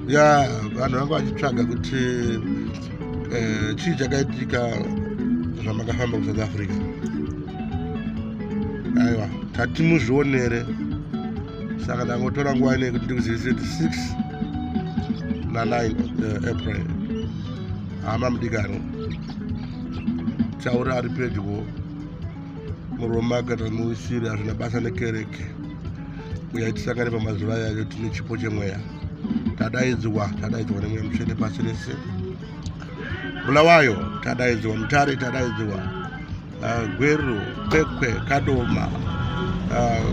ya vanhu vanga vachitsvaga kuti eh, chii chakaitika zvamakafamba kusouth africa aiwa tati muzvionere saka ndangotora nguva inei kuti ndikuzivise kuti 6 na 9 eh, april hama mudikano chaura ari pedyo murume akati muisiri hazvina basa nekereke uya tisangane pamazuva yayo tine chipo chemweya tadaidzwa tadaidzwa nemweya mutsvene pasi rese bulawayo tadaidzwa mutare tadaidzwa ah, gweru kwekwe kadoma ah,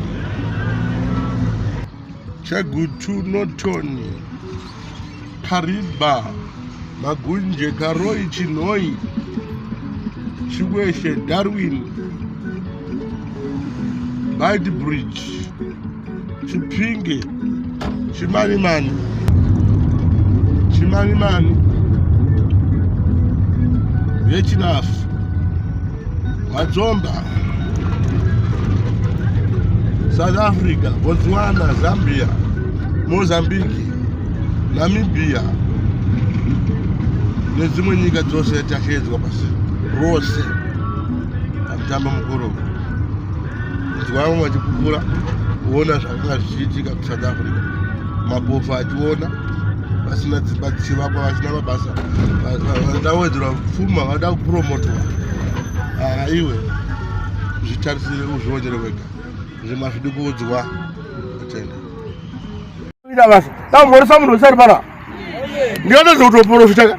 chagutu notoni Kariba, Magunje, Karoi, Chinhoi, Chikweshe, Darwin, Beitbridge, Chipinge, Chimanimani, Chimanimani, Vechinafu. Madzomba, South Africa, Botswana, Zambia, Mozambique, Namibia nedzimwe nyika dzose tashedzwa pasi rose pamutambo mukuru nzwa vamwe vachipupura kuona zvakanga zvichiitika kusouth africa mapofu achiona vasina dzimba dzichivakwa vasina mabasa vada kuwedzerwa pfuma vada kupromotwa haa iwe zvitarisire uzvionere wega zvima zvidi kuudzwa atenda ida basa tamhoresa munhu wesari pana ndiyatadza kutoporofitaka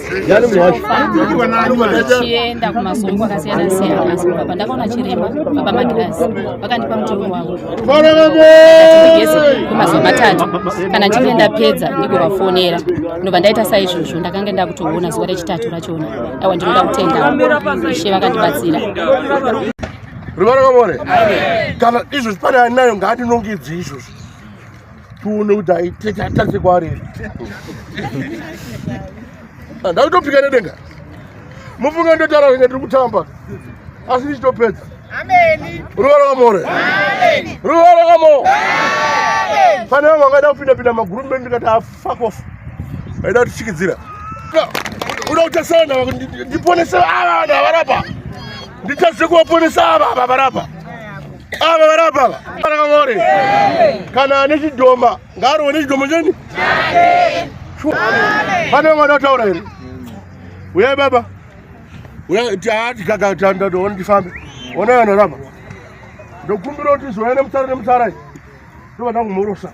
ndichienda kumasoko kwakasiyana siyana asi kubva pandakaona chiremba baba magirazi vakandipa mutongo wavo atigeze kwemazuva matatu kana ndichinge ndapedza ndigovafonera ndobva ndaita saizvozvo ndakange ndakutoona zuva rechitatu rachona aiwa ndinoda kutenda ishe vakandibatsira ruvara kwamore kana izvozvi pane anayo ngaandinongedze izvozvo tione kuti aitete kwaari handai kutopika nedenga mufunge ndotaura zvinge tiri kutamba asi ndichitopedza ruva rakamore ruva rakamo pane vamwe vangaida kupinda pinda maguru mbeni ndikati afakofu ah, aida kutichikidzira uda kutasana ndiponese ava vanhu avarapa nditadze kuvaponesa ava ava varapa ava vari apa ava varakavore kana ane chidhoma ngaarowe nechidhoma cheni pane vamwe vada kutaura here uyai baba uyai tiati kakatandadowoni tifambe onai vanhu rapa ndokumbira kuti zvoya nemutsara nemutsara ndovada kumhorosa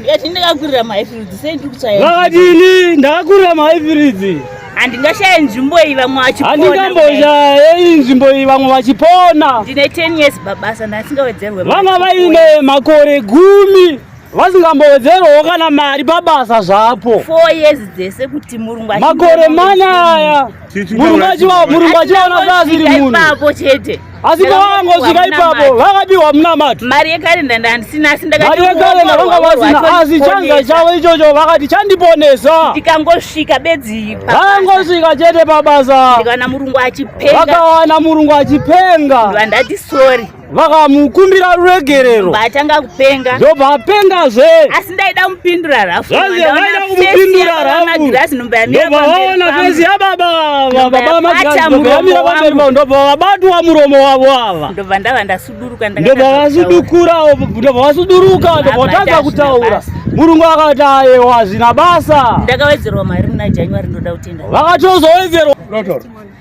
Ndikati ndakakurira mahifiridzi sei ndiri kutsvaya. Vakadini ndakakurira mahifiridzi. Handingashaye nzvimbo iyi vamwe vachipona. Handingamboshaye nzvimbo iyi vamwe vachipona. Ndine 10 years babasa ndasingawedzerwe. Vanga vaine makore gumi vasingambowedzerwawo kana mari pabasa zvapo makore manyaya murungu achivaona seasiri munhu asi pavangosvika ipapo vakapiwa munamato mari yekarenda ndandisina asi ndakati mari yekarenda vanga vasina asi chanza chavo ichocho vakati chandiponesa ndikangosvika bedzi vakangosvika chete pabasa ndikawana murungu achipenga vakawana murungu achipenga ndandati sorry vakamukumbira ruregerero vatanga kupenga ndobva apengazve ndaida kumupindura harafu ndobva vabatwa muromo wavo ava ndobva ndava ndasuduruka ndobva vasudukura ndobva vasuduruka ndobva vatanga kutaura murungu akati ayewa hazvina basa ndakawedzerwa mari muna january ndoda kutenda vakatozowedzerwa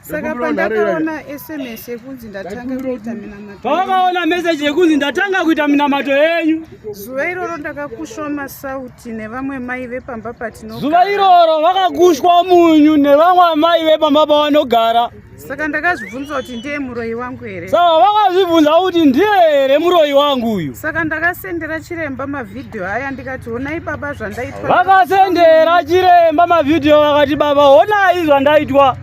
saka pandakaona sms yekunzi ndatanga kuita minamato pavakaona meseji yekunzi ndatanga kuita minamato yenyu zuva iroro ndakakushwa masauti nevamwe mai vepamba patino zuva iroro vakakushwa munyu nevamwe amai vepamba pavanogara saka ndakazvibvunza kuti ndiye muroyi wangu here saka vakazvibvunza kuti ndiye here muroyi wangu uyu saka ndakasendera chiremba mavhidhiyo aya ndikati honai baba zvandaitwa vakasendera chiremba mavhidhiyo vakati baba honai zvandaitwa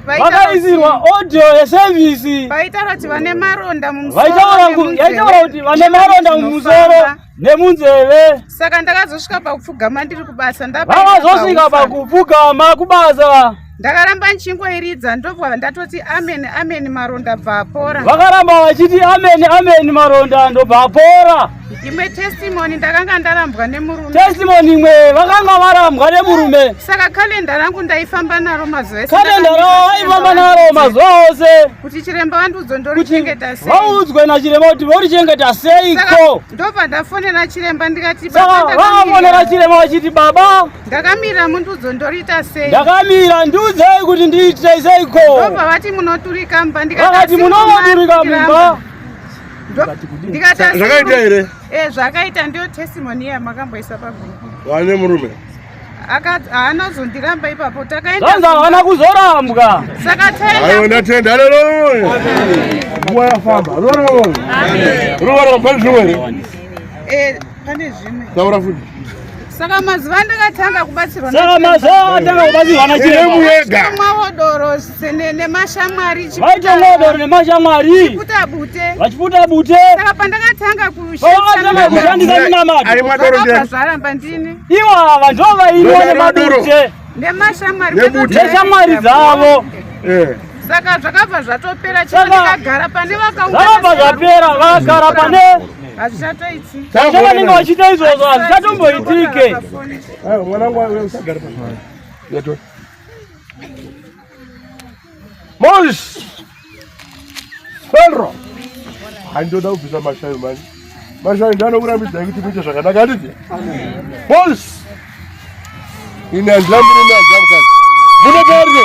vakaisirwa audio yesevhisi vaitaura kuti vane maronda mumusoroyaitaura kuti vane maronda mumusoro nemunzeve saka ndakazosvika pakupfugama ndiri kubasa ndavakazosvika pakupfugama kubasa ndakaramba ndichingoiridza ndobva ndatoti amen amen maronda bva apora vakaramba vachiti amen amen maronda ndobva apora imwe testimony ndakanga ndarambwa nemurume testimony imwe vakanga varambwa nemurume saka kalenda rangu ndaifamba naro mazuva ese kalenda ravo vaifamba naro mazuva ose kuti chiremba vandiudzwe ndorichengeta sei vaudzwe nachiremba kuti vorichengeta seiko ndobva ndafonera chiremba ndikati vakafonera chiremba vachiti baba ndakamira mundiudzo ndoriita sei ndakamira ndiudzei kuti ndiitei seiko ndobva vati munoturika mba ndikati munovaturika mumba zvakaita here eh, zvakaita ndiyo testimony yamakamboisa pagrup wane murume haanazondiramba ipapo takaendaanza haana kuzorambwa saka taiwa ndatenda aleluya nguva yafamba ruva ramba zvimwe here eh, pane zvimwe taura futi saka mazuva andakatanga kubatsirwa saka mazuva atanga kubatsirwa nachiremuyega mwavodorosi nemashamwari vaita ngodoro nemashamwari vachiputa bute saka pandakatanga kushandisa ndinamadoazvaramba ndini iwa vanhu vainwa nemadute neshamwari dzavo eh. saka zvakabva zvatopera chio ndikagara pane vakauzvakabva zvapera vakagara pane hazvichatoitivanenge vachiita izvozvo hazvichatomboitike eh, Mosh! Pedro! Handoda kubvisa mashayo manje. Mashayo ndiye anokurambidza kuti muite zvakanaka handiti? Mosh! Ini handina murume handina mukadzi. Muno Pedro!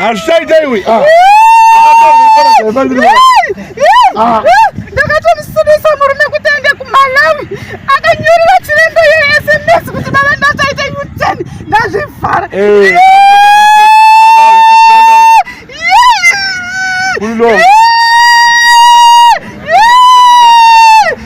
Hazvichaita iwe. Ah. Ah. Ndakatomusudisa murume kuti aende kuMalawi. Akanyorera chiremba ye SMS kuti baba ndachaita U10 ndazvivhara. Eh. Ulo.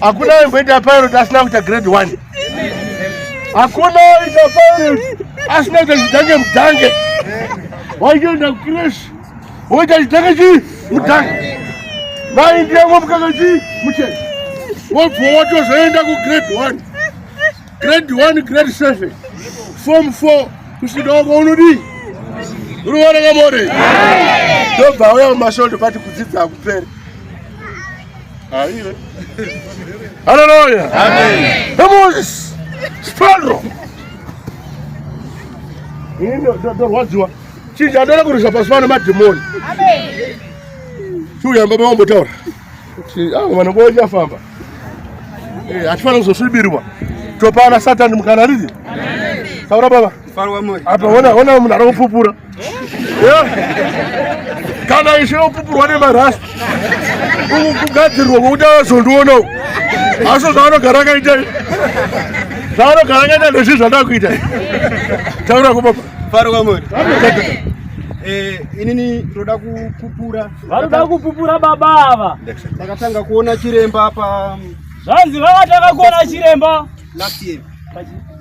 hakuna aimboita pirot asina kuita grade one hakuna aita pirot asina kuita chidange mudange waitoenda kukresh woita chidange chii mudange vaindiyango mukaka chii muchena wobva watozoenda kugrade one grade 1 grade 7 form 4 kusvika wako unodii unoona kamore ndobva auya mumashoto pati kudzidza akupere aive haleluya emoses spandro ndorwadziwa chinja ndoda kurisa pasi pano madhimoni chiuyamba pamambotaura kuti avo vanhu vachafamba eh, hatifanira kuzosvibirwa topana satani mukana rizi taura baba apa ona ona munhu ari kupupura kana ishe opupurwa nemarasi kugadzirwa kwokuti avazondionawo aso zvaanogara akaita zvaanogara akaita ndezvi zvandakuita taura kubaba faro kwamuri eh, inini toda kupupura Vanoda kupupura baba ava. Ndakatanga kuona chiremba pa Zvanzi vakatanga kuona chiremba last year.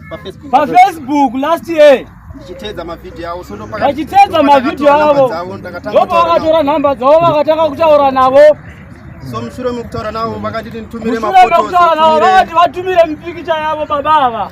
Pa Facebook. Pa Facebook last year. Ndichitedza mavideo avo so ndopaka Ndichitedza mavideo avo. Ndopa vakatora number dzavo vakatanga kutaura navo. So mushure mekutaura navo vakati nitumire mafoto. Mushure mekutaura navo vakati vatumire mipikicha yavo baba ava.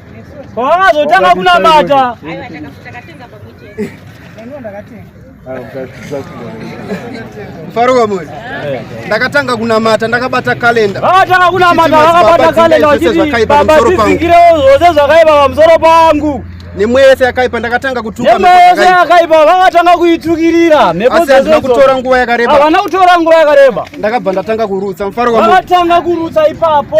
Paakazotanga kunamata mfaro wamwe ndakatanga kunamata ndakabata kalenda vakatanga kunamata vakabata kalenda vachiti baba tizingire zvose zvakaipa pamusoro pangu nemweya yese yakaipa ndakatanga kutuka nemweya yese yakaipa vakatanga kuitukirira asi hazvina kutora nguva yakareba havana kutora nguva yakareba ndakabva ndatanga kurutsa mfaro wamwe vakatanga kurutsa ipapo